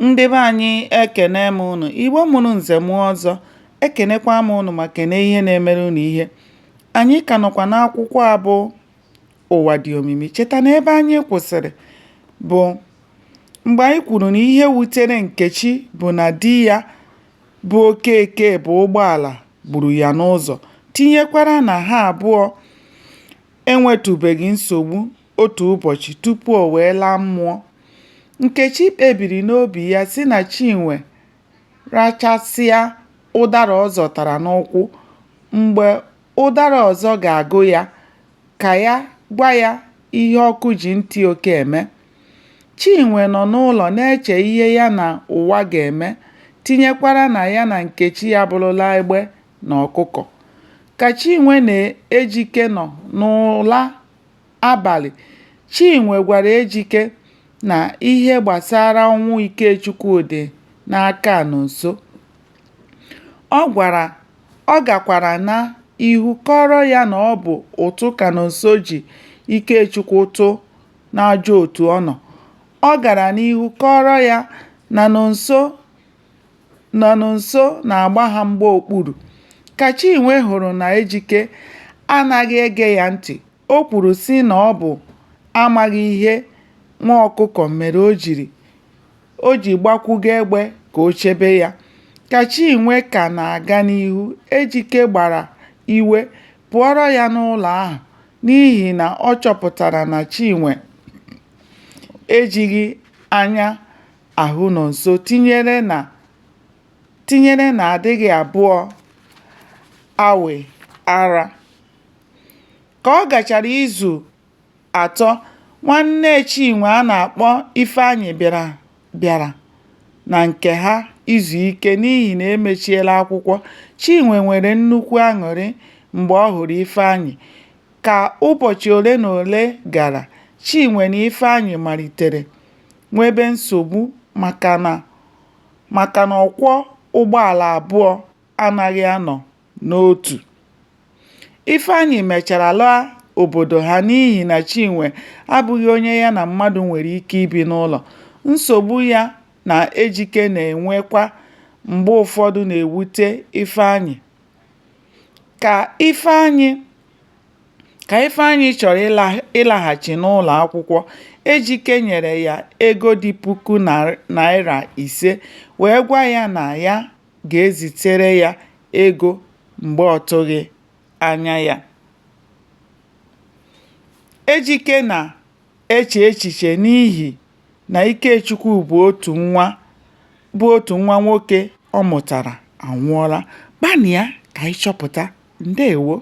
Ndị be anyị ekene m ụnụ, Igbo mụrụ nze mụọ ọzọ, ekenekwa m ụnụ ma kene ihe na-emere ụnụ ihe. Anyị ka nọkwa n'akwụkwọ a bụ ụwa dị omimi. Cheta na ebe anyị kwụsịrị bụ mgbe anyị kwuru na ihe wutere Nkechi bụ na di ya bụ Okeke bụ ụgbọala gburu ya n'ụzọ, tinyekwara na ha abụọ enwetụbeghị nsogbu Otu ụbọchị tupu o wee laa mmụọ, Nkechi kpebiri n'obi ya sị na Chinwe rachasịa ụdara ọ zọtara n'ụkwụ, mgbe ụdara ọzọ ga-agụ ya, ka ya gwa ya ihe ọkụ ji ntị oke eme. Chinwe nọ n'ụlọ na-eche ihe ya na ụwa ga-eme, tinyekwara na ya na Nkechi abụrụla egbe na ọkụkọ. Ka Chinwe na Ejike nọ n'ụla abalị, Chinwe gwara Ejike na ihe gbasara ọnwụ Ikechukwu dị n'aka Nonso. Ọ gakwara n'ihu kọọrọ ya na ọ bụ ụtụ ka Nonso ji Ikechukwu tụ n'ajọ otu ọ nọ. Ọ gara n'ihu kọọrọ ya na Nonso na Nonso na-agba ha mgba okpuru. Ka Chinwe hụrụ na Ejike anaghị ege ya ntị, o kwuru sị na ọ bụ amaghị ihe nwa ọkụkọ mere o ji gbakwuga egbe ka o chebe ya. Ka Chinwe ka na-aga n'ihu, Ejike gbara iwe pụọrọ ya n'ụlọ ahụ n'ihi na ọ chọpụtara na Chinwe ejighị anya ahụ Nonso, tinyere na tinyere na adịghị abụọ awe ara. Ka ọ gachara izu atọ, nwanne Chinwe a na-akpọ Ifeanyị bịara na nke ha izu ike n'ihi na e mechiela akwụkwọ. Chinwe nwere nnukwu aṅụrị mgbe ọ hụrụ Ifeanyị. Ka ụbọchị ole na ole gara, Chinwe na Ifeanyị malitere nwebe nsogbu maka na maka na ọkwọ ụgbọala abụọ anaghị anọ n'otu. Ifeanyị mechara laa obodo ha n'ihi na Chinwe abụghị onye ya na mmadụ nwere ike ibi n'ụlọ. Nsogbu ya na Ejike na-enwekwa mgbe ụfọdụ na-ewute Ifeanyị. Ka Ifeanyị Ka Ifeanyị chọrọ ịlaghachi n'ụlọakwụkwọ, Ejike nyere ya ego dị puku naịra ise wee gwa ya na ya ga-ezitere ya ego mgbe ọ tụghị anya ya. Ejike na-eche echiche n'ihi na Ikechukwu bụ otu nwa bụ otu nwa nwoke ọ mụtara anwụọla. Gbanịa ka ị chọpụta. Ndewo.